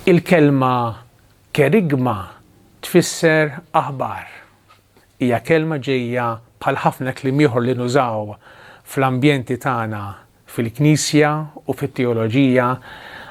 Il-kelma kerygma tfisser aħbar. Hija kelma ġejja bħal ħafna kliem ieħor li nużaw fl-ambjenti tagħna fil-Knisja u fit-teoloġija.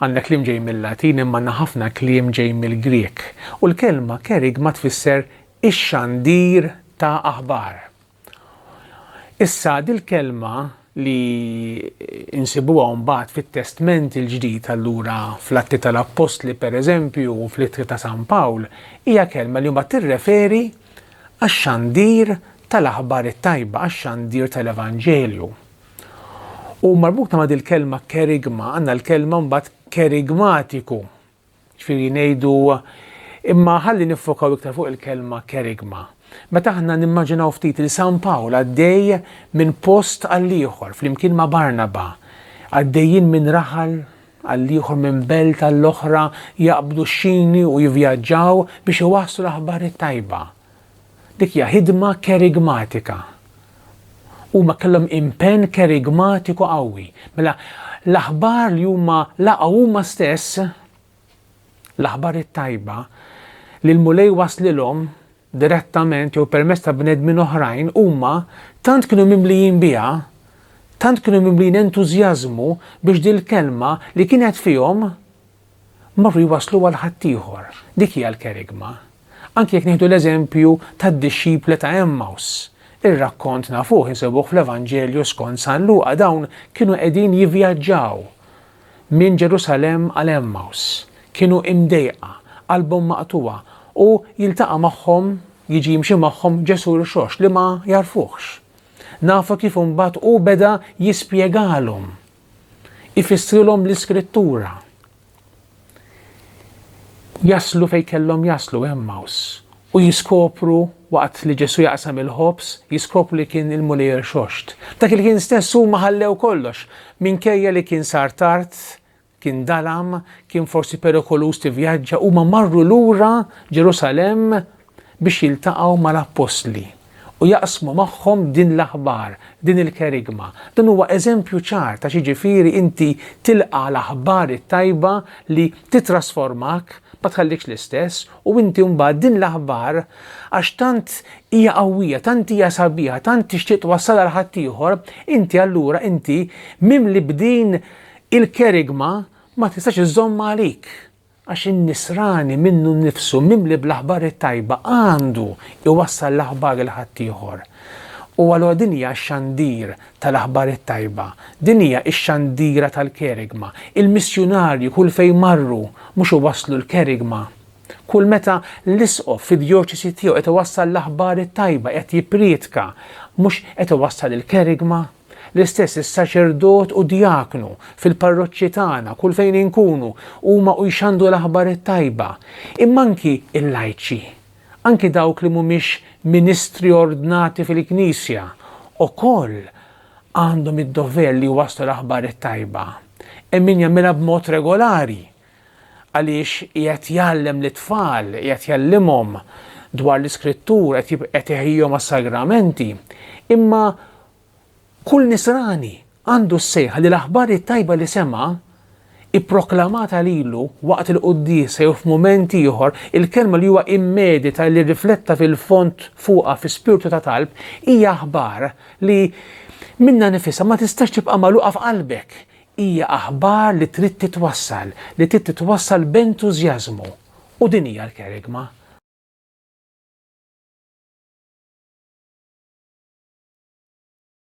Għandna kliem ġej mil-Latin imma għandna ħafna kliem ġej mill-Grieg. U l-kelma kerygma tfisser ix-xandir ta' aħbar. Issa, dil-kelma li nsibuha mbagħad fit-Testment il-Ġdid allura fl-Atti tal-Appostli pereżempju u fl-Ittri ta' San Pawl hija kelma li mbagħad tirreferi għax-xandir tal-aħbar it-tajba, għax-xandir tal-Evanġelju. U marbuta ma' dil-kelma kerigma għandna l-kelma mbagħad kerigmatiku Jiġifieri ngħidu, imma ħalli niffokaw iktar fuq il-kelma kerygma. Meta aħna nimmaġinaw ftit lil San Pawl għaddej minn post għall-ieħor flimkien ma' Barnaba, għaddejjin minn raħal għall-ieħor minn belt għall-oħra jaqbdu x-xini u jivvjaġġaw biex iwasslu l-aħbar it-tajba. Dik hija ħidma kerigmatika. Huma kellhom impenn kerigmatiku qawwi. Mela, l-aħbar li huma laqgħu huma stess, l-aħbar it-tajba, li l-Mulej waslilhom direttament jew permezz ta' bnedmin oħrajn huma tant kienu mimlijin biha, tant kienu mimlijin entużjażmu biex dil-kelma li kienet fihom marru jwasslu għal ħaddieħor. Dik hija l-kerygma. Anki jekk nieħdu l-eżempju tad-dixxipli ta' Għemmaws, ir-rakkont nafuh insibuh fl-Evanġelju skont San Luqa dawn kienu qegħdin jivvjaġġaw minn Ġerusalemm għal Għemmaws. Kienu imdejqa, qalbhom maqtugħa u jiltaqa' magħhom, jiġi jimxi magħhom Ġesù rxoxt li ma jagħrfuhx. Nafu kif imbagħad hu beda jispjegalhom ifissrilhom l-Iskrittura. Jaslu fejn kellhom jaslu Emmaus u jiskopru waqt li Ġesu jaqsam il-ħobż, jiskopru li kien il-Mulej xoxt. Dak il-ħin stess huma ħallew kollox, minkejja li kien sar tard, kien dalam, kien forsi perikoluż tivvjaġġa, huma marru lura Ġerusalemm biex jiltaqgħu mal-appostli u jaqsmu magħhom din l-aħbar, din il-kerygma. Dan huwa eżempju ċar ta' x'jiġifieri inti tilqa' l-aħbar it-tajba li tittrasformak, ma tħallikx l-istess, u inti mbagħad din l-aħbar għax tant hija qawwija, tant hija sabiħa, tant tixtieq twassalha għal ħaddieħor, inti allura inti mimli b'din il-kerygma ma tistax iżżommha għalik. Għax in-nisrani minnu nnifsu, mimli bl-aħbar it-tajba, għandu jwassal l-aħbar 'il ħaddieħor. U allura din hija x-xandir tal-aħbar it-tajba. Din hija x-xandira tal-kerygma. Il-missjunarji kull fejn marru mhux iwasslu l-kerygma. Kull meta l-isqof fid-djoċesi tiegħu qed iwassal l-aħbar it-tajba, qed jipprietka, mhux qed iwassal il-kerygma? L-istess is-saċerdot u djaknu fil-parroċċi tagħna kull fejn inkunu huma u jxandru l-aħbar it-tajba. Imma anki l-lajċi, anki dawk li mhumiex ministri ordnati fil-Knisja, ukoll għandhom id-dover li jwasslu l-aħbar it-tajba. Hemm min jagħmilha b'mod regolari, Għaliex qiegħed jgħallem lit-tfal, qiegħed jgħallimhom dwar l-Iskrittur, qed jib, qed iħejjihom għas-sagramenti. Imma kull Nisrani għandu s-sejħa li l-aħbar it-tajba li sema', ipproklamata lilu waqt il-quddiesa jew f'mument ieħor, il-kelma li huwa immedita li rrifletta fil-fond fuqha fi spirtu ta' talb, hija aħbar li minnha nifisha ma tistax tibqa' magħluqa f'qalbek. Hija aħbar li trid titwassal, li trid titwassal b'entużjażmu. U din hija l-kerygma.